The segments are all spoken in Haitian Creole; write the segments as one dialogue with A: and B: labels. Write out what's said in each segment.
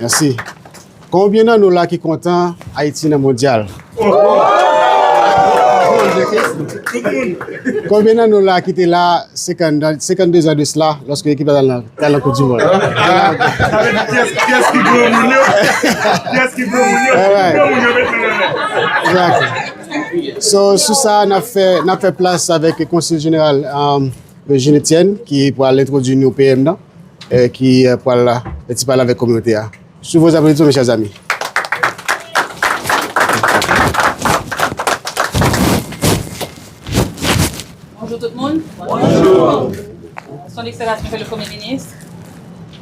A: Mèsi. Konbyen nan nou la ki kontan Ayiti nan mondyal? Konbyen nan nou la ki te la 52 zan de sla lòske ekip la ta nan koup di mond?
B: Alright.
A: So sou sa a, n ap fè, n ap fè plas avèk Konsil Jeneral Regine Etienne ki pral entwodui nou PM nan, ki pral fè ti pale avèk kominote a. Sou vos applaudissements mes chers amis. Bonjou
C: tout moun. Bonjou. Son Ekselasyon Msye le Premye Minis.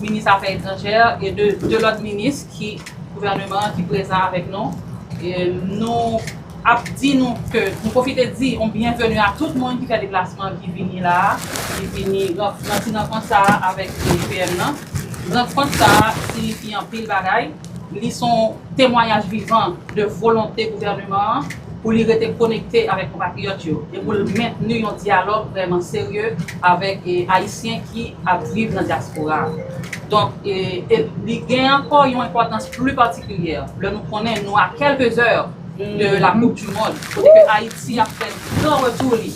C: Minis afè etranjè e de 2 lòt minis ki gouvèneman an ki prezan avèk nou. Nou ap di nou ke, nou pwofite di yon byenveni a tout moun ki fè deplasman ki vini la a, ki vini nan ti rankont sa a avèk PM nan. Rankont sa a sinifi anpil bagay. Li son temwanyaj vivan de volonte gouvèneman an pou li rete konekte avèk konpatriyòt yo e pou l mentni yon dyalòg vrèman serye avèk Ayisyen ki ap viv nan dyaspora a. Donk, li gen ankò yon enpòtans pli patikilyè lè nou konnen nou a kèlke zè de la koup di mond kote ke Ayiti ap fè gran retou li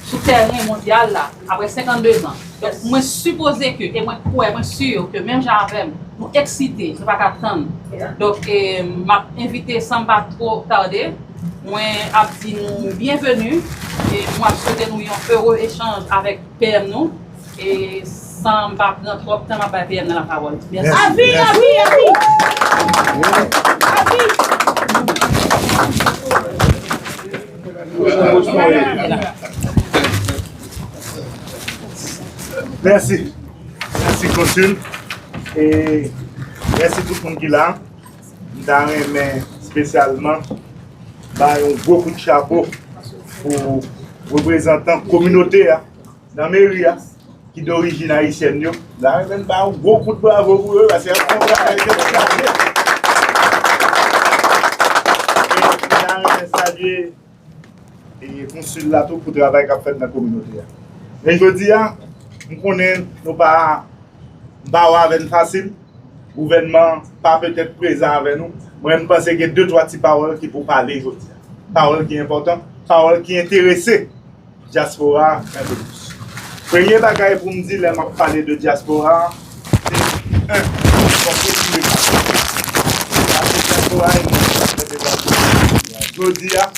C: sou tèren mondyal la. Aprè 52 zan. Donk mwen sipoze ke e mwen kwè, mwen sur ke menm jan avè m, nou eksite, nou pa ka tann. Donk m ap envite san m pa two tarde, mwen ap di nou byenveni e mwen ap swete nou yon ere echanj avèk PM nou e san m pa pran twòp tan m ap bay PM nan lapawòl. Mèsi.
B: Mèsi, mèsi konsil e mèsi tout moun ki la. M ta renmen spesyalman bay yon gwo kout chapo pou reprezantan kominote a. Nan meri a ki dorijin ayisyèn yo. La renmen n ba yon gwo kout bravo pou yo paske yap fè yon travay dedikaze. E la renmen salye konsil la tou pou travay kap fèt nan kominote a. Men jodi a m konnen nou pa ba w avè n fasil, gouvènman an pa petèt prezan avè nou, mwen m panse gen de twa ti pawòl ki pou pale jodi a. Pawòl ki enpòtan, pawòl ki enterese Diaspora un peu plus. Premye bagay pou m di lè m ap pale de diaspora se 1. Fòk yo touye Kato. Pase diaspora e moun ki ap fè devwa sou peyi a. Jodi a,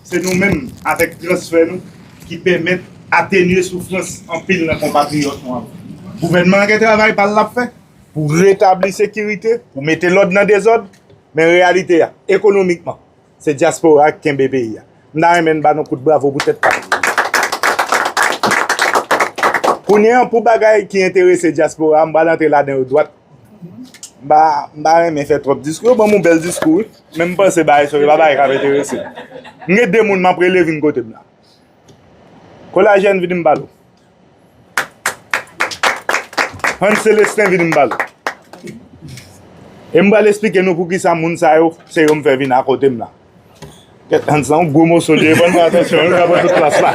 B: se nou menm avèk transfè nou ki pèmèt atenye soufrans anpil nan konpatriyòt nou ap viv. Gouvènman an gen travay pa l l ap fè pou retabli sekirite, pou mete lòd nan dezòd, men reyalite a, ekonomikman, Se diaspora a ki kenbe peyi a. M ta renmen n ba nou kout bravo pou tèt kay. Kounye an pou bagay ki enterese diaspora a, m pral antre ladan yo dwat. M pa renmen fè twòp diskou. Yo ban m yon bèl diskou wi. Men m panse bagay sa yo se pa bagay k ap enterese. M gen 2 moun m ap rele vin kote m la. Kolajèn vini m pale w. Hans Celestin vin m pale. E m pral esplike nou poukisa moun sa yo se yo m fè vin akote m la. Kèt Hans lan yon gwo moso li e fò n fè atansyon l ka pran tout plas la.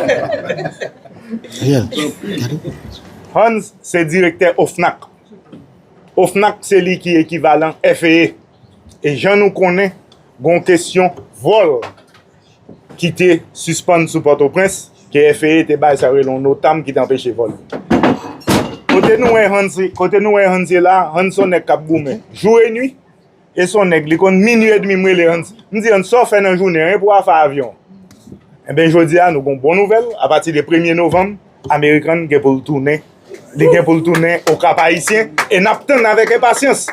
B: Hans se direktè OFNAC. OFNAC se li ki ekivalan FEE. E jan nou konnen gon kesyon vòl. ki te sispann sou Pòtoprens, ke FAA te bay sa yo rele yon NOTAM ki te anpeche vòl yo. Kote nou wè Hans, kote nou wè Hans ye la a, Hans se yon nèg k ap goumen jou e nwi, e se yon nèg, li konn minui e demi m rele Hans, m di Hans sa w fè nan jounen an e pou afè avyon? Enben jodi a nou gen yon bon nouvèl, apati de premye novanm, American gen pou l tounen, li gen pou l tounen o Kap Ayisyen e n ap tann avèk enpasyans.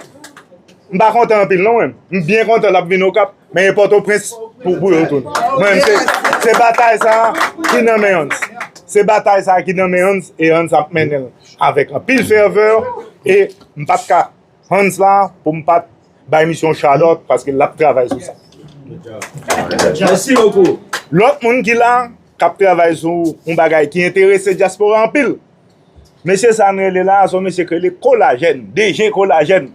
B: M pa kontan anpil non mwen, m byen kontan l ap vin Okap men e Pòtoprens pou yo tounen. Mwen menm se batay sa a ki nan men Hans. Se batay sa a ki nan men Hans e Hans ap mennen l avèk anpil fèvè e m pa t ka. Hans la pou m pat bay misye yon chalòt paske lap travay sou sa.
D: Lòt moun ki la
B: kap travay sou yon bagay ki enterese dyaspora anpil. Mesye sa n rele la son mesye ki rele Kolajèn, DG Kolajèn.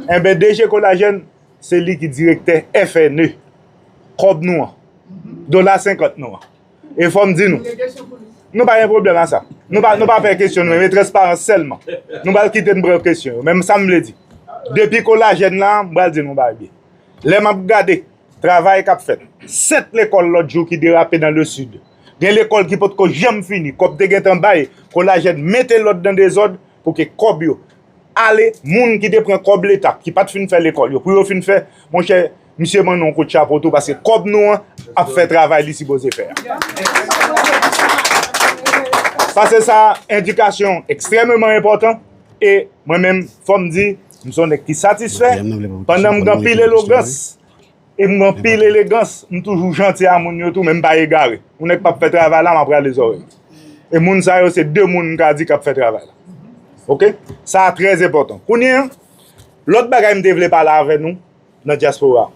B: Enben DG Kolajèn se li ki direktè FNE. Kòb nou an. Dola senkant nou an. E fò m di nou, nou pa gen pwoblèm a sa. Nou pa pè kesyon nou men, men transparans sèlman. Nou pral kite m pran kesyon yo. Men m sa m vle di, depi kolajèn la, m pral di nou yon bagay. Lè m ap gade travay k ap fèt, 7 lekòl lòt jou ki derape nan le Sid. Gen lekòl ki potko janm fini, kòb te gentan bay, kolajèn mete lòd nan dezòd. Pou ke kòb yo ale moun ki te pran kòb leta ki pat fin fè lekòl yo pou yo fin fè monchè misye ban nou yon kout chapo tou paske kòb nou an ap fè travay li sipoze fè a. Sa se sa endikasyon ekstrèmeman enpòtan e mwen menm fò m di m son nèg ki satisfè pandan m gen anpil elogans. E m gen anpil elegans, m toujou janti a moun yo tou men m pa egare. Yon nèg pap fè travay la m ap rale zòrèy li. E moun sa yo se 2 moun m ka di k ap fè travay la. Ok? Sa a trè enpòtan. Kounye an, lòt bagay m te vle pale avè nou nan dyaspora.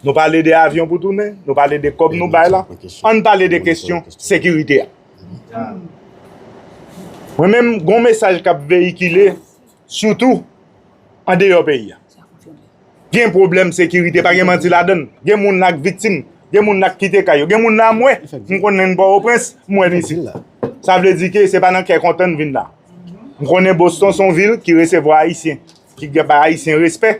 B: Nou pale de avyon pou tounen, nou pale de kòb nou bay la, an n pale de kesyon sekirite a. Mwen menm gen yon mesaj k ap veyikile. Sitou andeyò peyi a. Gen pwoblèm sekirite, pa gen manti ladann. Gen moun la k viktim, gen moun la k kite kay yo. Gen moun la mwen, m konn menn Pòtoprens, m wè l isit la. Sa vle di ke se pa nan kè kontan n vin la. M konnen Boston s on vil ki resevwa Ayisyen, ki bay Ayisyen respè.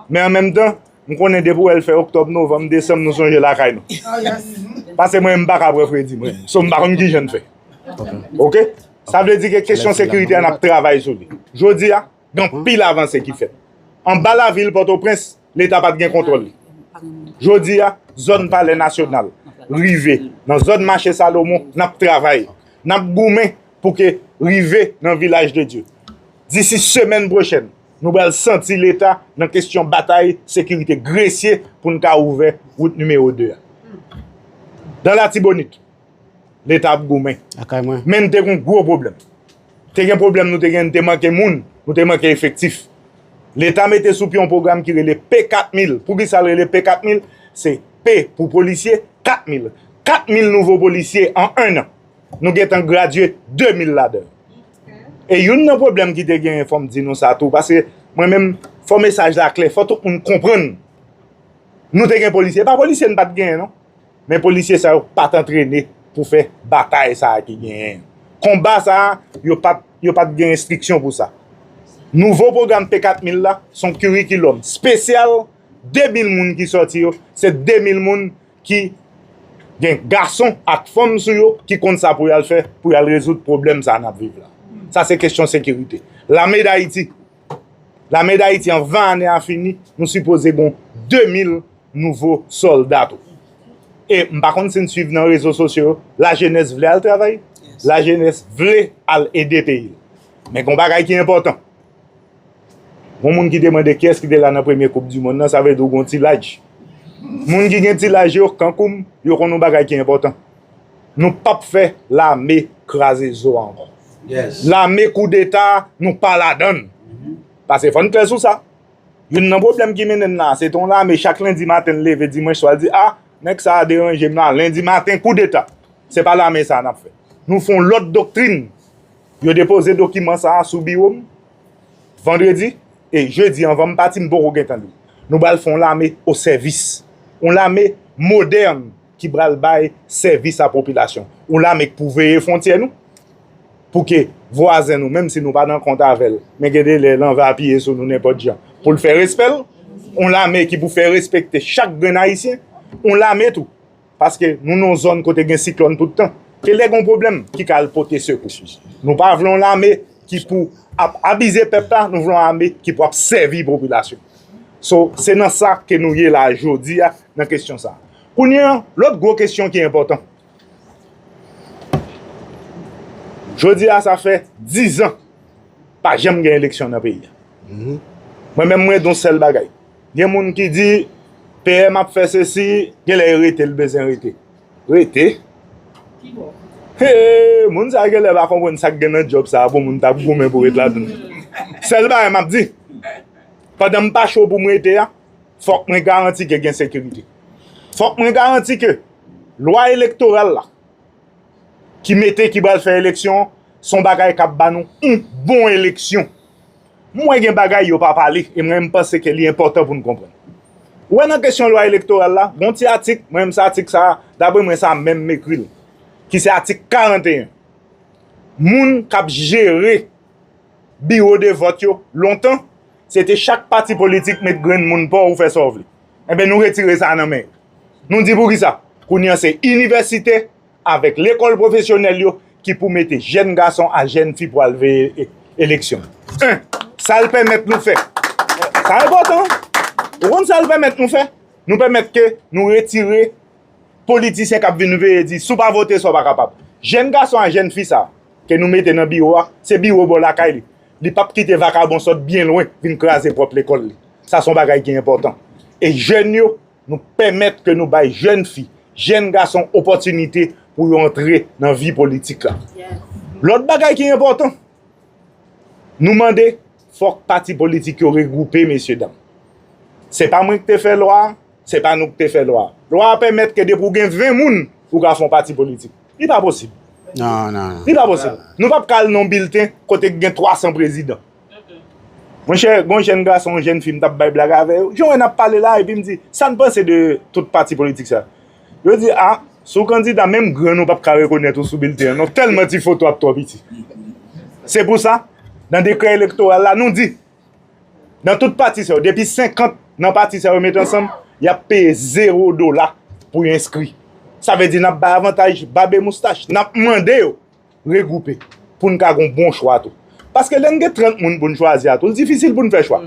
B: Men an menm tan, m konnen depi wè l fè oktòb, novanm, desanm nou sonje lakay nou. Pase mwen m pa ka pran fredi mwen. So m pa konn kijan n fè. Ok? Sa vle di ke kesyon sekirite a n ap travay sou li. Jodi a, gen anpil avanse ki fèt. Anba lavil Pòtoprens, leta pa t gen kontwòl li. Jodi a, zòn palè nasyonal, rive nan zòn mache Salomon, n ap travay. N ap goumen pou ke rive nan vilaj de Dye. Disi semèn pwochèn. Nou pral santi leta nan kesyon batay sekirite Gresye pou n ka ouvè wout nimewo 2 a. Nan Latibonit, leta ap goumen. Men n te gen yon gwo pwoblèm. Te gen pwoblèm nou te gen, nou te manke moun, nou te manke efektif. Leta mete sou pye yon pwogram ki rele P 4000. Pou ki sa l rele P 4000? Se P pou polisye, 4000. 4000 nouvo polisye an ennan. Nou gen tan gradye 2000 ladan yo. E youn nan pwoblèm ki te genyen fò m di nou sa tou paske mwen menm fò mesaj la klè fò tout moun konprann nou te gen polisye e pa polisye n pa t genyen non men polisye sa yo pa t antrene pou fè batay sa a ki genyen an konba sa a yo pa t yo pa t gen enstriksyon pou sa nouvo pwogram p 4 mil la s on kirikilòm spesyal 2 mil moun ki sòti yo se 2 mil moun ki gen gason ak fanm sou yo ki konn sa pou y al fè pou y al rezoud pwoblèm sa a n ap viv la. Sa se kesyon sekirite. Lame Dayiti, Lame Dayiti anvan ane a fini, nou sipoze gen 2 mil nouvo sòlda tou. E m pa konn si n suiv nan rezo sosyo yo, lajenès vle al travay, lajenès vle al ede peyi l. Men gen yon bagay ki enpòtan, Yon moun ki te mande kiyès ki te la nan premye koup di monn nan, sa vle di ou gen yon ti laj. Moun ki gen ti laj yo, kankou m, yo konn yon bagay ki enpòtan. Nou pap fè lame kraze zo a ankò. Lame
D: koudeta
B: a, nou pa ladan l. Pase fò n klè sou sa. Youn nan pwoblèm ki mennen n la a, se te yon lame chak lendi maten l leve dimanch swa l di a, nèg sa a deranje m la a, lendi maten koudeta. Se pa lame sa a n ap fè. Nou fè yon lòt doktrin Yo depoze dokiman sa a sou biwo m vandredi e jedi anvan m pati m poko gentan li l. Nou bal fè yon lame o sèvis. Yon lame modèn ki bal bay sèvis a popilasyon. Yon lame k pou veye fwontyè nou pou ke vwazen nou menm si nou pa nan kont avè l men gen de lè l anvi apiye sou nou nenpòt jan pou l fè respè l. Yon lame ki pou fè respekte chak grenn ayisyen. Yon lame tou. Paske nou nan yon zòn kote gen siklòn tout tan. Se lè gen yon pwoblèm ki ka al pote sekou. Nou pa vle yon lame ki pou ap abize pèp la, nou vle yon lame ki pou ap sèvi popilasyon. So, se nan sa ke nou ye la jodi a nan kesyon sa. Kounye an, lòt gwo kesyon ki enpòtan. Jodi a sa fè 10 an pa janm gen eleksyon nan peyi a. Mwen menm mwen di yon sèl bagay. Gen moun ki di PM ap fè sesi genlè e rete l bezyen rete. Rete? Hee moun sa genlè pa konprann sak gen nan djòb sa pou moun tap goumen pou ret ladann. Sèl bagay map di pandan m pa cho pou m rete a fòk mwen garanti ke gen sekirite. Fòk mwen garanti ke lwa elektoral la ki mete ki pral fè eleksyon son bagay kap ba nou yon bon eleksyon. M wè gen bagay yo pa pale e mwen m panse ke li enpòtan pou n konprann. Ou wè nan kesyon lwa elektoral la, gon ti atik, mwen m se atik sa a, dapre mwen sa menm m ekri l, ki se atik 41. Moun k ap jere biwo de vòt yo lontan, se te chak pati politik met grenn moun pa w ou fè sa w vle. Enben nou retire sa a nan men yo. Nou di poukisa? Kounye an se inivèsite. avèk lekòl pwofesyonèl yo ki pou mete jèn gason a jèn fi pou al veye eleksyon. 1. Sa l pèmèt nou fè. Sa enpòtan. Ou konn sa l pèmèt nou fè? Nou pèmèt ke nou retire politisyen k ap vin veye di si w pa vote sa w pa kapab. Jèn gason a jèn fi sa a ke nou mete nan biwo a, se biwo bò lakay li. Li p ap kite vakabon sot byen lwen vin kraze pwòp lekòl li. Sa se yon bagay ki enpòtan. E jèn yo. nou pèmèt ke nou bay jèn fi, jèn gason opòtinite pou yo antre nan vi politik la. Lòt bagay ki enpòtan, nou mande fòk pati politik yo regwoupe mesye dam. Se pa mwen ki te fè lwa a, se pa nou ki te fè lwa a. Lwa a pèmèt ke depi ou gen 20 moun, ou ka fè yon pati politik. Li pa posib.
A: Li pa posib.
B: Nou pap ka al nan yon bilten kote ki gen 300 prezidan. Monchè, gon jèn gason, yon jèn fi m t ap bay blag avè yo, jan wè n ap pale la a, epi m di, sa n panse de tout pati politik sa? Yo di, a, si w kandida, menm grann ou p ap ka rekonèt ou sou bilten an non, tèlman ti foto a twò piti. Se pou sa, nan dekrè elektoral la, nou di, nan tout pati sa yo, depi 50 nan pati sa yo met ansanm, y ap peye zewo dola pou yo enskri. Sa vle di n ap bay avantaj babemoustache, n ap mande yo. regwoupe pou n ka gen yon bon chwa tou. Paske lè n gen 30 moun pou n chwazi a tou, li difisil pou n fè chwa.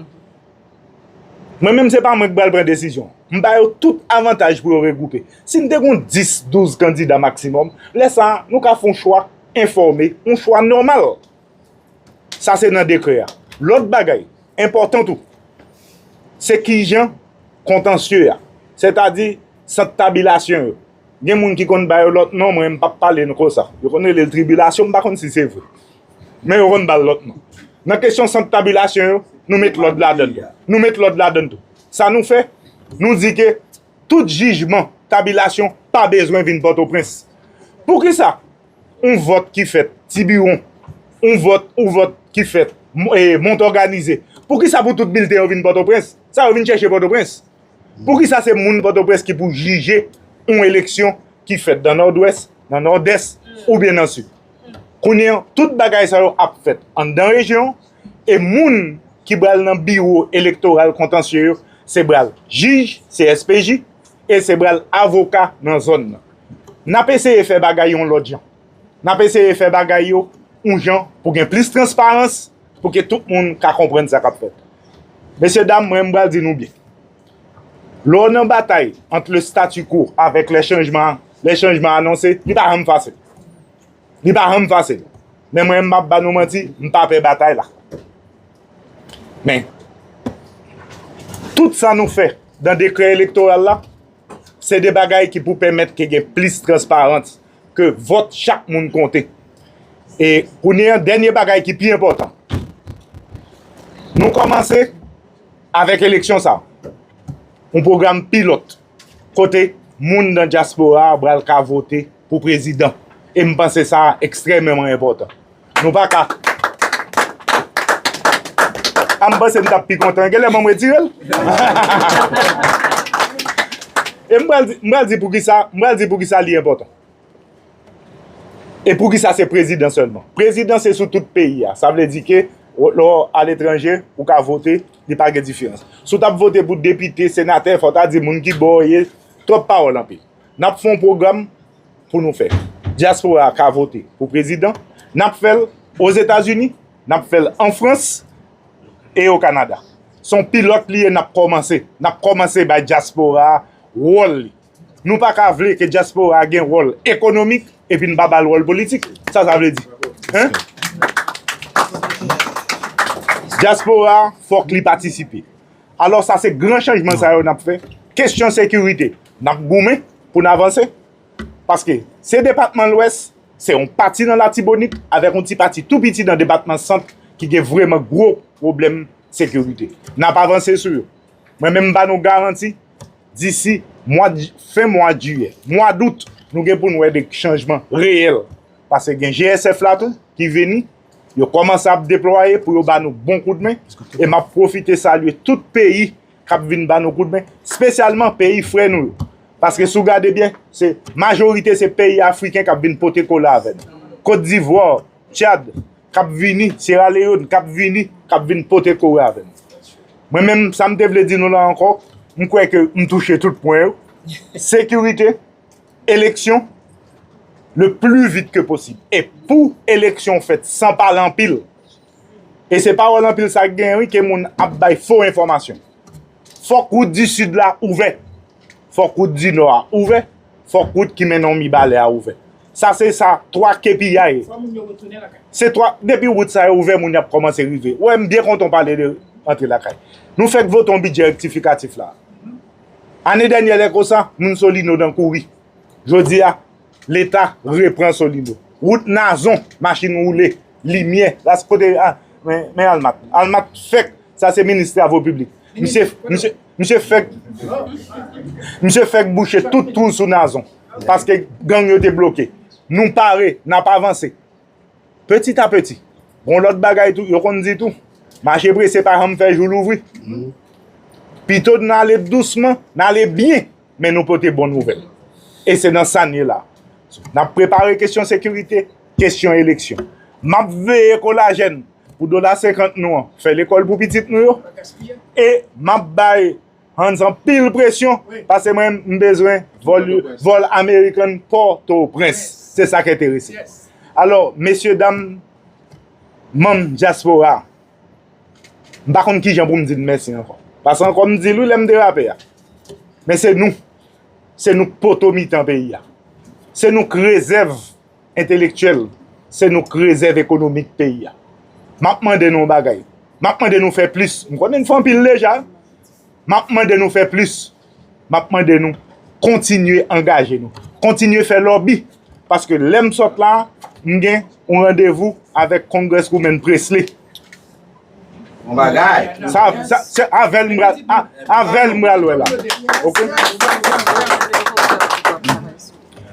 B: Mwen menm se pa mwen ki pral pran desizyon an. M ba yo tout avantaj pou yo regwoupe. Si n te gen 10, 12 kandida maksimòm, lè sa a, nou ka fè yon chwa enfòme, yon chwa nòmal. Sa se nan dekrè a. Lòt bagay, enpòtan tou, se kijan kontansye a, sètadi sant tabilasyon yo, Gen moun ki konn ba yo lòt non mwen m pap pale n konsa. Yo konn rele l tribilasyon m pa konn si se vre. Men yo konn ba l lòt non. Nan kesyon sant tabilasyon yo, nou met lòd ladan l. Nou met lòd ladan l tou. Sa nou fè? Nou di ke tout jijman tabilasyon pa bezwen vin Pòtoprens. Poukisa yon vòt ki fèt Tibiwon, yon vòt yon vòt ki fèt Montòganize, poukisa pou tout bilten yo vin Pòtoprens? Sa yo vin chèche Pòtoprens? Poukisa se moun Pòtoprens ki pou jije yon eleksyon ki fèt nan Nòdwès, nan Nòdès oubyen nan Sid? Kounye an, tout bagay sa yo ap fèt anndan rejyon an e moun ki pral nan biwo elektoral kontansye yo se pral jij CSPJ e se pral avoka nan zòn nan. N ap eseye fè bagay yon lòt jan. N ap eseye fè bagay yo yon jan pou gen plis transparans, pou ke tout moun ka konprann sa k ap fèt. Mesye dam, mwen m pral di nou byen, lè w nan batay ant le statu quo avèk le changement, le changement anonse, li pa janm fasil. Li pa janm fasil. Men mwen m p ap ba nou manti, m pa pè batay la. Men, tout sa nou fè nan dekrè elektoral la, Se de bagay ki pou pèmèt ke gen plis transparans, ke vòt chak moun konte. E kounye an, dènye bagay ki pi enpòtan, nou kòmanse avèk eleksyon sa a, yon pwogram pilòt kote moun nan dyaspora a pral ka vote. pou prezidan e m panse sa a ekstrèmeman enpòtan. Nou pa ka. A m panse m t ap pi kontan gen lè mwen m retire l. E m pral di, m pral di pou ki sa, m pral di pou ki sa li enpòtan. E pou ki sa se prezidan sèlman. Prezidan se sou tout peyi a. Sa vle di ke lè w aletranje, ou ka vote, li pa gen diferans. Si w t ap vote pou depite, senatè, fò w ta di moun ki bò w ye, twòp pawòl anpil. Nap fè yon pwogram pou nou fè dyaspora ka vote pou prezidan, nap fèl Ozetazini, nap fèl an Frans e o Kanada. Son pilòt li ye nap kòmanse, nap kòmanse bay dyaspora wòl li. Nou pa ka vle ke dyaspora gen wòl ekonomik epi n pa bal wòl politik. Sa sa vle di? Hein? Dyaspora fòk li patisipe. Alò sa se gran chanjman sa yo n ap fè. Kesyon sekirite, n ap goumen pou n avanse. Paske se depatman Lwès, se yon pati nan Latibonit avèk yon ti pati tou piti nan depatman Sant ki gen vreman gwo pwoblèm sekirite. N ap avanse sou yo. Mwen menm m ba nou garanti disi fen mwa jiyè, mwa dout nou gen pou n wè de chanjman reyèl. Paske gen GSF la tou ki vini. Yo kòmanse ap deplwaye pou yo ba nou bon koudmen e m ap pwofite salye tout peyi k ap vin ba nou koudmen, spesyalman peyi frè nou yo. Paske si w gade byen, se majorite se peyi afriken k ap vin pote kola avè nou. Kot Divwa, Tchad, k ap vini, Syera Leyòn, k ap vini, k ap vin pote kore avè nou. Mwen menm, sa m te vle di nou la ankò, m kwè ke m touche tout pwen yo. Sekirite. eleksyon le pli vit ke posib. E pou eleksyon fèt san pale anpil, e se pawòl anpil sa k genyen wi ke moun ap bay fo enfòmasyon. Fòk wout di Sid la ouvè, fòk wout di Nò a ouvè, fòk wout ki mennen w Mibalè a ouvè. Sa se sa 3 kpiyay, se 3, depi wout sa yo ouvè moun y ap kòmanse rive. Ou wè m byen kontan w pale de rantre lakay. Nou fèk vote yon bidjè rektifikatif la a. Ane dènyè lè konsa, moun Solino nan kouri. Jodi a, Leta repran Solino. Wout Nazon, machin woule, limyè, las kote a, men Almathe. Almathe fèk, sa se minis travo piblik. Misye fèk, misye fèk bouche tout twou sou Nazon. Paske gang yo te bloke. Nou pare, n ap avanse. Petit a petit. Gon lòt bagay tou, yo konn di tou, mache prese pa janm fè jou louvri. Pito n ale dousman, n ale byen, men nou pote bon nouvèl. E se nan sa n ye la. N ap prepare kesyon sekirite, kesyon eleksyon. M ap veye kolajèn pou dola senkant nou an fè lekòl pou pitit nou yo. E m ap bay. Hans anpil presyon pase mwen m bezwen vol American Port-au-Prince se sa k enterese m alò mesye dam manm diaspora m pa konn kijan pou m di n mèsi ankò pase ankò m di l wi lè m derape a men se nou se nou k poto mitan peyi a se nou k rezèv Entelektyèl, se nou k rezèv ekonomik peyi a. M ap mande nou yon bagay. M ap mande nou fè plis. M konnen n fè anpil deja. M ap mande nou fè plis. M ap mande nou kontinye angaje nou. Kontinye fè lòbi. Paske lè m sot la, m gen yon randevou avèk Congresswoman Pressley.
D: Bon bagay. Sa, sa, se
B: avèl m pral, a, avèl m pral wè la. Ok?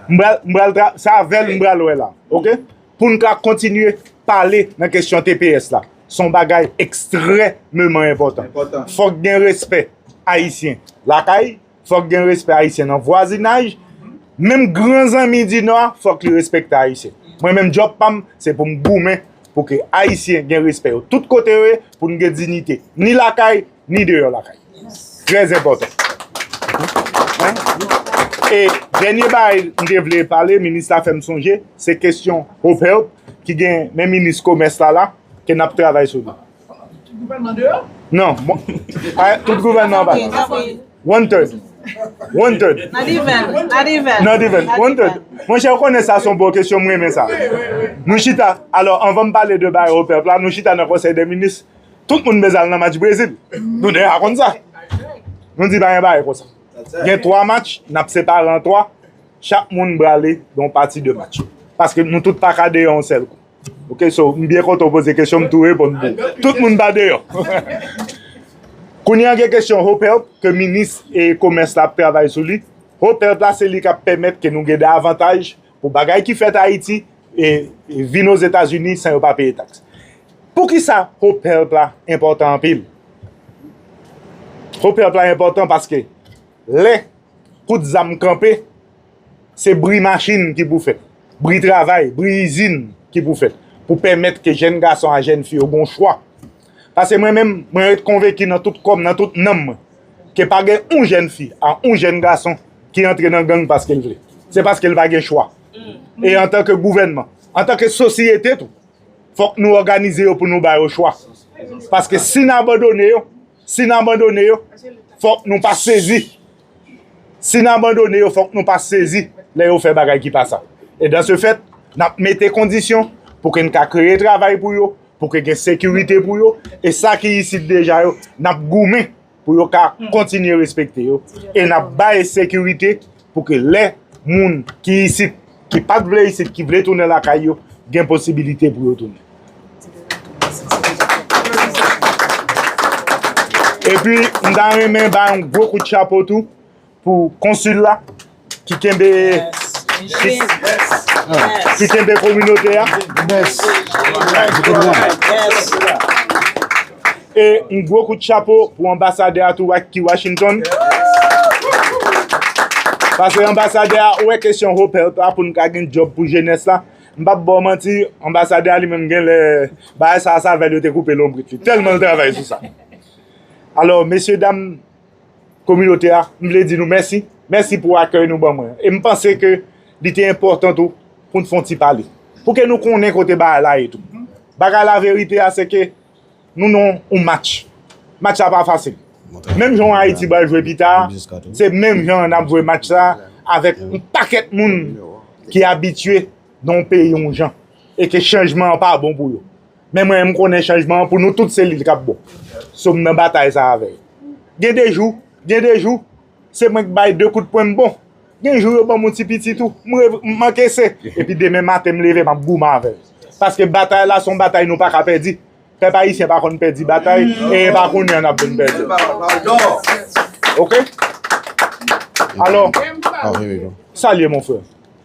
B: M pral, m pral tra, se avèl m pral wè la. Ok? Pou n ka kontinye pale nan kesyon tps la. Se yon bagay ekstrèmeman enpòtan. Enpòtan. Fòk gen respè Ayisyen lakay. Fòk gen respè Ayisyen nan vwazinaj, menm gran zanmi di Nò a fòk li respekte Ayisyen. Mwen menm djòb pa m se pou m goumen pou ke Ayisyen gen respè yo tout kote yo ye, pou n gen dinite ni lakay ni deyò lakay. Trè zenpòtan. E dènye bagay m te vle pale, minis la fè m sonje, se kesyon Hope Help ki gen men minis komès la la ke n ap travay sou li. Non, tout gouvènman an pa la. One third. Not even.
E: Not even. Not even. One third.
B: Mwen chè ou konnen sa son bon kesyon mwen men sa. Nou chita, alò anvan m pale de baye ou pèp la, nou chita nan konsey de minis, tout moun bezal nan match Brezil. Nou de akon sa. Nou di baye baye konsa. Gen 3 match, nap separe an 3, chak moun brale don pati de match. Paske nou tout pa kade yon sel kou. Ok so m byen kontan ou poze kesyon m tou reponn pou ou. Tout moun pa deyò. Kounye an gen kesyon HOPERP ke minis e komès la ap travay sou li. HOPERP la se li k ap pèmèt ke nou gen de avantaj pou bagay ki fèt Ayiti e vin Ozetazini san yo pa peye taks. Poukisa HOPERP la enpòtan anpil? HOPERP la enpòtan paske lè kout zam kanpe. Se bri machin ki pou fèt, bri travay, bri izin ki pou fèt pou pèmèt ke jèn gason a jèn fi yo gon chwa. Pase mwen menm, mwen ret konvenki nan tout kò m, nan tout nanm mwen, ke pa gen yon jèn fi a yon jèn gason ki antre nan gang paske l vle. Se paske l pa gen chwa. E antanke gouvènman, antanke sosyete tou, fòk nou òganize yo pou nou ba yo chwa. Paske si n abandone yo. Si n abandone yo, fòk nou pa sezi. Si n abandone yo, fòk nou pa sezi lè yo fè bagay ki pa sa. E dan se fèt, n ap mete kondisyon pou ke n ka kreye travay pou yo, pou ke gen sekirite pou yo, e sa ki isit deja yo, n ap goumen pou yo ka kontinye respekte yo, e n ap bay sekirite. pou ke lè moun ki isit, ki pat vle isit, ki vle tounen lakay yo, gen posibilite pou yo tounen. E pi, m ta renmen bay yon gwo kout chapo tou pou konsil la ki kenbe ki kenbe kominote a. E yon gwo kout chapo pou anbasadè a tou ki Washington. Pase anbasadè a wè kesyon Hope Health la pou nou ka gen djòb pou jenès la. M pap ba w manti, anbasadè a li menm gen lè bagay sa a savè l yo te koupe lonbrit li. Tèlman l travay sou sa. Alò, mesye dam. kominote a, m vle di nou mèsi, mèsi pou akèy nou ban mwen. E m panse ke li te enpòtan tou pou n fè yon ti pale. Pou ke nou konnen kote bagay la ye tou. Bagay la verite a se ke nou nan yon match. Match la pa fasil. Menm jan Ayiti pral jwe pita a, se menm jan n ap jwe match sa a avèk yon pakèt moun ki abitye nan yon peyi yon jan e ke chanjman an pa bon pou yo. Men mwen m konnen chanjman an pou nou tout se li k ap bon. So m nan batay sa avè yo. Gen de jou, gen de jou, se mwen k bay de kout pwen m bon. Gen jou yo ban m yon ti piti tou, m reve, m ankese. Epi demen maten m leve m ap goumen avè l. Paske batay la se yon batay nou pa ka pèdi. Pèp ayisyen pa konn pèdi batay, e e pa kounye a n ap vin pèdi l. Ok? Alò, salye mon frè.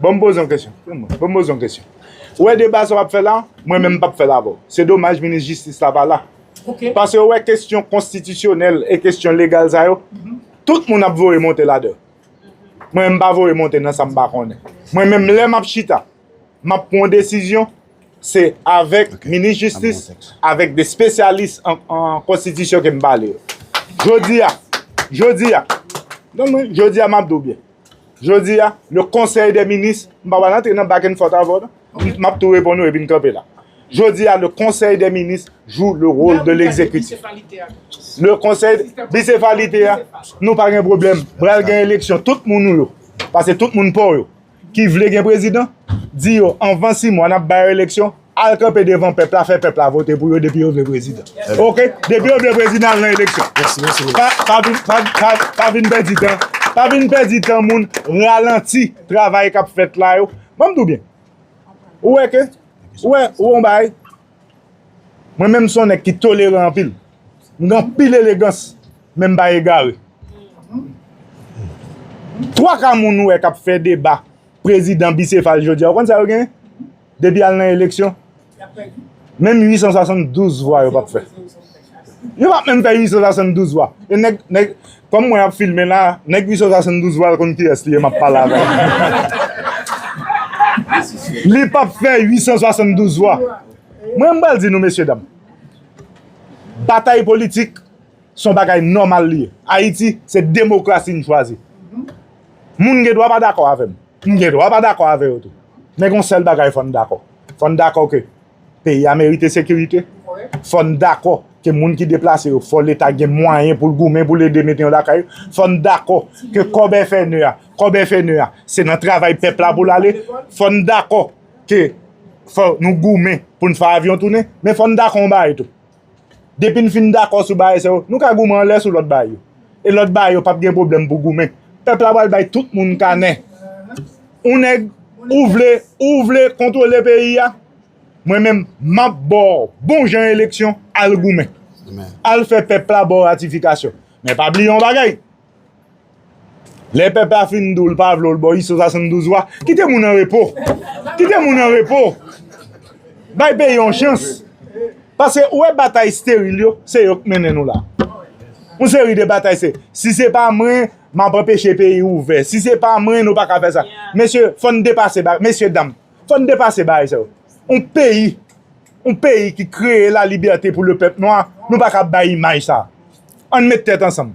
B: Bon m poze yon kesyon, bon m poze yon kesyon. Ou wè deba sa w ap fè la, mwen menm m p ap fè l avè w. Se domaj minis jistis la pa la. Pase ou wè kesyon konstitisyonèl e kesyon legal sa yo, tout moun ap voye monte ladan l. Mwen menm m pa voye monte nan sa m pa konnen. Mwen menm lè m ap chita, m ap pran yon desizyon, se avèk minis jistis, avèk de spesyalis an konstitisyon ke m pale yo. Jodi a, jodi a, jodi a m ap di w byen. Jodi a, le Conseil des ministres, m pa pral antre nan back and forth avè w non, m ap tou reponn ou epi n kanpe la. Jodi a, le Conseil des ministres joue le rôle de l'exécutif. Le Conseil, bicéphalité a, nou pa gen pwoblèm. Pral gen eleksyon, tout moun ou yo, pase tout moun pa w yo, ki vle gen prezidan, di yo anvan 6 mwa n ap ba yo eleksyon. Al kanpe devan pèp la fè pèp la vote pou yo depi yo vle prezidan ok depi yo vle prezidan al nan eleksyon pa vin pèdi tan pa vin pèdi tan moun ralanti travay kap fèt la yo banm diw byen ou wè ke ou wè ou wè yon bagay mwen menm son nèg ki toleran anpil m gen anpil elegans men m pa egare 3 ka moun ou wè kap fè deba prezidan bisefal jodi a ou konn sa yo genyen Depi al nan eleksyon, menm 872 vwa yo pap fè. Yo pap menm fè 872 vwa. E nèg, nèg, kòm mwen ap filme la, nèg 872 vwa l konn kiyès li ye map pale avè l. Li pap fè 872 vwa. Mwen m pral di nou mesye dam, batay politik Son bagay nòmal li ye. Ayiti, se demokrasi n chwazi. Moun gen dwa pa dakò avè m. M gen dwa pa dakò avè yo tou. Men gon sèl bagay fò n dakò. Fò n dakò ke peyi a merite sekirite. Fò n dakò ke moun ki deplase yo fò leta gen mwayen pou l goumen pou l ede mete yo lakay yo. Fò n dakò ke kòb FNE a, kòb FNE a, se nan travay pèp la pou l ale. Fò n dakò ke fò nou goumen pou n fè avyon tounen. Men fò n dakò yon bagay tou. Depi n fin dakò sou bagay sa yo, nou ka goumen anlè sou lòt bagay yo. E lòt bagay yo pap gen pwoblèm pou goumen. Pèp la pral bay tout moun kanè. Ou nèg, ou vle, ou vle kontwole peyi a, mwen menm m ap ba w bon jan eleksyon, al goumen. Al fè pèp la ba w ratifikasyon. Men pa bliye yon bagay. Lè pèp la fin di w l pa vle w l ba w iso 72 wa, kite moun an repo. Kite moun an repo. Bay peyi yon chans. Pase ou wè batay steril yo, se yo k mennen nou la. Yon seri de batay se, si se pa mwen, m ap anpeche peyi ouvè. Si se pa mwen, nou pa ka fè sa. Mesye, fò n depase bagay. Mesye dam, fò n depase bagay sa yo. Yon peyi, yon peyi ki kreye lalibète pou lepèp nwa, nou pa ka bay imaj sa. An n met tèt ansanm.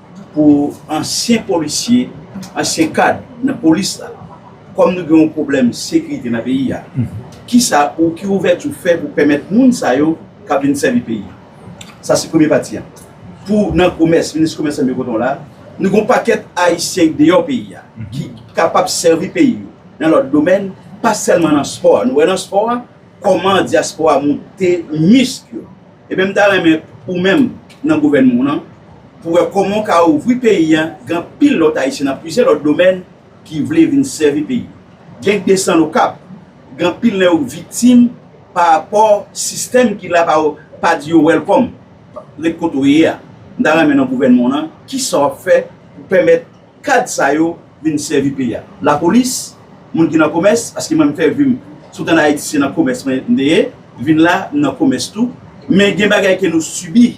D: pou ansyen polisye, ansyen kad nan polis la, kòm nou gen yon pwoblèm sekirite nan peyi a, ki sa ou, ki ouvèti ou fè pou pèmèt moun sa yo k ap vin sèvi peyi a? Sa se premye pati a. Pou nan komès, minis komès la mete kote w la, nou gen yon pakèt Ayisyen ki deyò peyi a, ki kapab sèvi peyi yo nan lòt domèn, pa sèlman nan spò a. Nou wè nan spò a. Koman diaspora moute misk yo. Ebyen m ta renmen ou menm nan gouvènman w lan pou wè koman w ka ouvri peyi an gen anpil lòt ayisyen nan plizyè lòt domèn ki vle vin sèvi peyi an gen k desann okap gen anpil nan yo k viktim pa rapò sistèm ki la pa di yo wèlkòm ret kote w ye a m ta renmen nan gouvènman w lan kisa w ap fè pou pèmèt Kad sa yo vin sèvi peyi a. Lapolis, moun ki nan komès, paske mwen m fè vi m tout an Ayiti se nan komès mwen m te ye, vin la m nan komès tou, men gen bagay ke nou sibi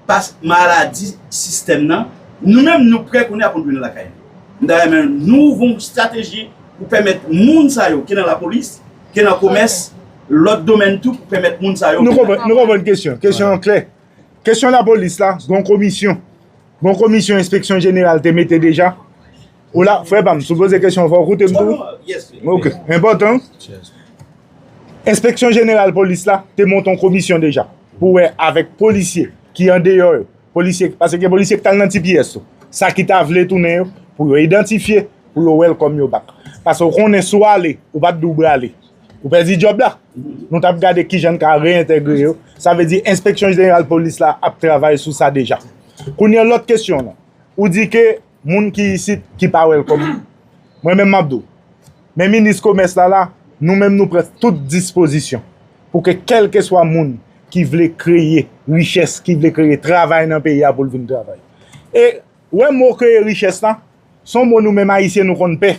D: pa maladi sistèm nan, nou menm nou prè kounye a pou nou tounen lakay nou. M ta renmen nou ouvri yon strateji pou pèmèt moun sa yo ke nan lapolis, ke nan komès, lòt domèn tou pou pèmèt moun sa yo. Nou konprann kesyon
B: an, kesyon an klè. Kesyon lapolis la, gen yon komisyon. Bon komisyon enspeksyon jeneral te mete deja? Ola, frè pam, sou poze kesyon fò koute m tou. Ok, enpòtan. Enspeksyon jeneral polis la te monton komisyon deja pou wè avèk polisye ki an deyò yo, polisye, pase gen polisye ki t al nan tps tou, sa ki ta vle tounen yo pou yo idantifye, pou yo wè l kòm yo bak. Pase ou konnen sou ale, ou pa t di w brale. Ou pèdi djòb la. Nou t ap gade ki jan n ka reyentegre yo. Sa vle di enspeksyon jeneral polis la ap travay sou sa deja. Kounye a lòt kesyon lan. Ou di ke moun ki isit ki pa welcome. Mwen menm m ap di w. Men minis komès la la, nou menm nou pran tout dispozisyon pou ke kèlkeswa moun ki vle kreye richès, ki vle kreye travay nan peyi a pou l vin travay. E wè mo kreye richès la, Son mo nou menm ayisyen nou konn pè,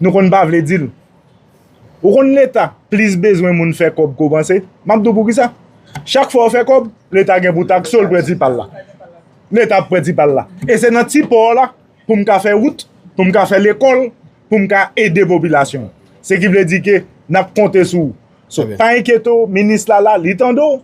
B: nou konn pa vle dil. Ou konn leta plis bezwen moun fè kòb ke w panse, map di w poukisa? Chak fwa ou fè kòb, leta gen pou takse w l pran ti pa l la. Leta ap pran ti pa l la. E se nan ti pò la pou m ka fè wout, pou m ka fè lekòl, pou m ka ede popilasyon an. Se ki vle di ke nap konte sou ou. So pa enkyete w, minis la la, li tande w.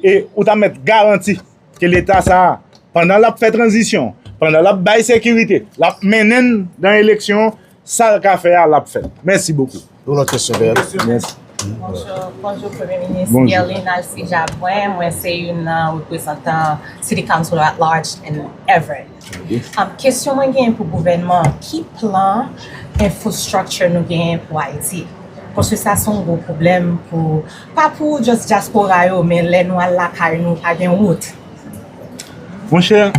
B: E ou ta mèt garanti ke leta sa a, pandan l ap fè tranzisyon, pandan l ap bay sekirite, l ap mennen n nan eleksyon, sa l ka fè a l ap fè l. Mèsi bokou. Yon lòt kesyon dèyè la. Mèsi.
A: Bonjou Premye
B: Minis
E: Guerline Alcide Labrun, mwen se youn nan reprezantan City Councilor at Large in Everett. Am kesyon mwen genyen pou gouvènman an ki plan infrastructure nou genyen pou Ayiti paske sa son gwo pwoblèm pou pa pou just diaspora yo men lè nou al lakay nou pa gen wout.
B: Monchè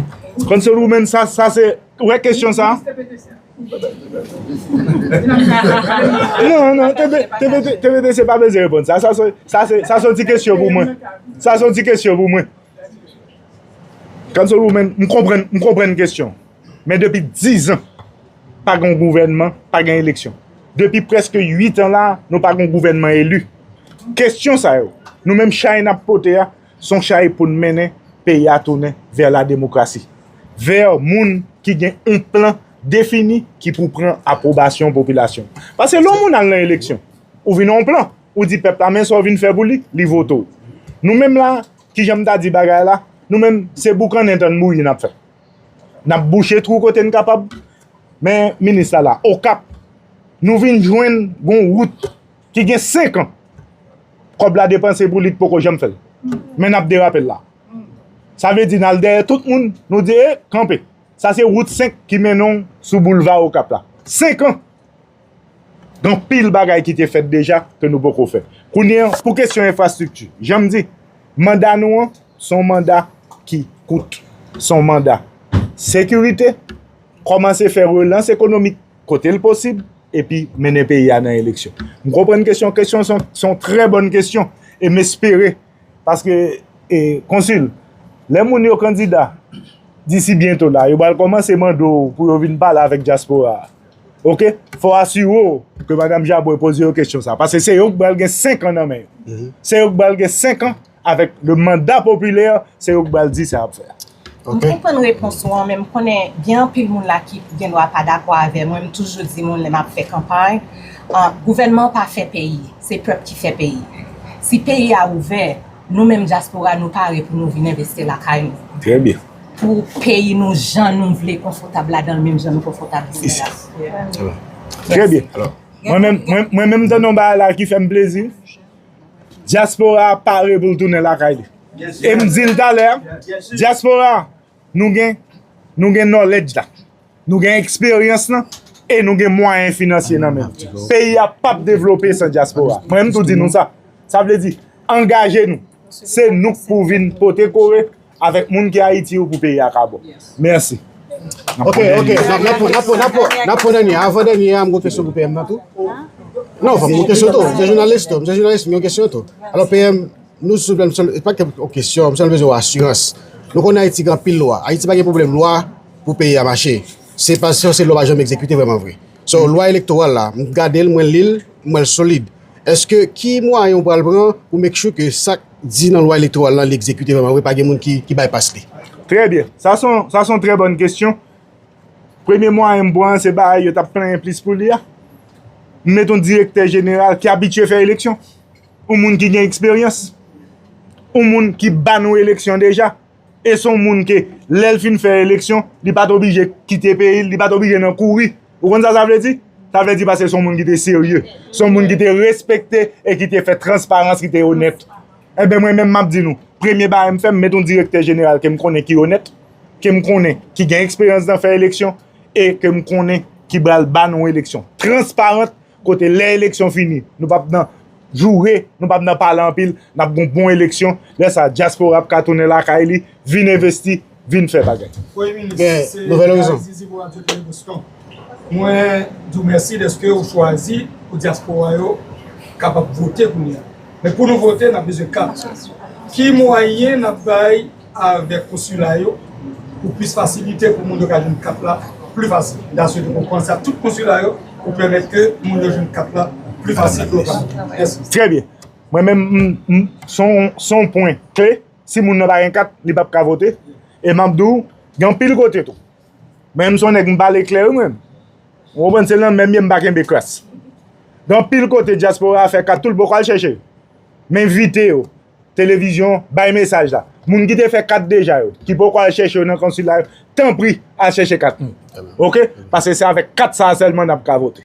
B: Council woman sa sa se ou wè kesyon sa non non TBTC pa bezwen reponn sa sa son ti kesyon pou mwen sa son ti kesyon pou mwen. Kansolou men m konprann m konprann kesyon men depi 10 ans pa gen yon gouvènman pa gen eleksyon depi preske 8 ans la nou pa gen yon gouvènman eli kesyon sa yo nou menm chay nap pote a son chay poun mennen peyi a tounen vè la demokrasi vè moun ki gen yon plan defini ki pou pran aprobasyon popilasyon paske lè yon moun al nan eleksyon ou vin nan yon plan ou di pèp la men sa ou vin fè pou li li vote w nou menm la Kijan m ta di bagay la? Nou menm, se boukannen tann bouyi n ap fè. N ap bouche twou kote n kapab, men minis la la. Okap, nou vin jwenn gon wout ki gen 5 an, kòb la depanse pou li t poko janm fè l, men n ap derape l la. Sa vle di n al dèyè tout moun, nou di e, kanpe. Sa se wout 5 ki mennen w sou boulva Okap la. 5 an! Gen anpil bagay ki te fèt deja ke nou poko fè. Kounye an, pou kesyon enfrastrikti, jan m di, manda nou an, se yon manda ki kout. Se yon manda sekirite, kòmanse fè relans ekonomik kote l posib, epi mennen peyi a nan eleksyon. M konprann kesyon an, kesyon an se yon trè bòn kesyon, e m espere, paske, Konsil, lè moun yo kandida, disi byento la, yo pral kòmanse mande w pou yo vin pale avèk dyaspora a. Ok, fò asire w ke Madam Jabouin poze yo kesyon sa. Pase se yo ki pral gen 5 an nan men yo. Mhm. Se yo ki pral gen 5 an avèk le manda popilè, se yo ki pral di sa ap fè. M konprann
E: repons ou an, men m konnen gen anpil moun la ki gen dwa pa dakò avè mwen, m toujou di moun lè m ap fè kanpay, gouvènman pa fè peyi, se pèp ki fè peyi. Si peyi a ouvè, nou menm dyaspora nou pare pou nou vin envesti lakay nou. Trè byen.
B: Pou peyi
E: nou jan nou vle konfotab ladanl menm jan nou konfotab isit la. Sa
B: va. Trè byen. Mwen menm m tande yon bagay la ki fè m plezi. Dyaspora a pare pou l tounen lakay li. E m di l talè a, dyaspora nou gen knowledge la. Nou gen eksperyans lan e nou gen mwayen finansye nan men. Peyi a pap devlope san dyaspora. Mwen menm tou di nou sa. Sa vle di, angaje nou. Se nou k pou vin pote kore avèk moun ki Ayiti yo pou peyi a ka bon. Mèsi.
A: Ok, ok. Nap pran dènye a. Avan dènye a, m gen kesyon pou PM nan tou. Non, fòk m gen kesyon tou. M se jounalis tou. M se jounalis, m gen kesyon tou. Alò PM, nou souple, m se, pa ke yon kesyon, m se bezwen yon asirans. Nou konnen Ayiti gen anpil lwa. Ayiti pa gen pwoblèm lwa, Pou peyi a mache se pa se yon se lwa pa janm egzekite vreman vre so lwa elektoral la m gade l mwen li l m wè l solid eske ki mwayen ou pral pran pou make sure ke sak di nan lwa elektoral la li egzekite vreman vre pa gen moun ki bay pas li. Trè byen, sa son
B: sa son trè bòn kesyon premye mwayen m pran se bagay yo tap plenyen plis pou li a m met yon direktè jeneral ki abitye fè eleksyon yon moun ki gen eksperyans yon moun ki ban nou eleksyon deja. E son moun ke lèl fin fè eleksyon, li pat oblije kite peyi l, li pat oblije nan kouri. Ou konn sa sa vle di? Sa vle di paske son moun ki te serye, son moun ki te respekte e ki te fè transparans, ki te onèt. Enben mwen menm map di nou, premye bagay m fè m met yon direktè jeneral ke m konnen ki onèt, ke m konnen ki gen eksperyans nan fè eleksyon e ke m konnen ki pral ba nou eleksyon transparant. Kote lè eleksyon fini nou pap nan joure, nou pap nan pale anpil, nap gon bon eleksyon, lè sa dyaspora ap ka tounen lakay li, vin envesti, vin fè bagay. Premye Minis,
F: se Gary Zizi pou
A: Radyo Tele Boston.
F: Mwen di w mèsi dèske ou chwazi pou dyaspora yo kapab vote kounye a. Men pou nou vote, n ap bezwen kat. Ki mwayen n ap bay? avèk konsila yo pou plis fasilite pou moun yo ka jwenn kat la pli fasil na swete pou panse ak tout konsila yo pou pèmèt ke moun yo jwenn kat la pli fasil pou yo ka jwenn mèsi. Trè
B: byen. Mwen menm m m se yon pwen kle si moun nan pa gen kat li pap ka vote e m ap di w gen anpil kote tou men m se yon nèg m pale klè wi mwen menm ou konprann se nan menm m ye m pa kenbe kras gen anpil kote dyaspora a fè kat tou l poko al chèche yo m envite yo Televizyon bay mesaj la. Moun ki te fè kat deja yo, ki poko al chèche yo nan konsila yo, tanpri al chèche kat nou. Ok? Pase se avèk kat sa a sèlman nap ka vote.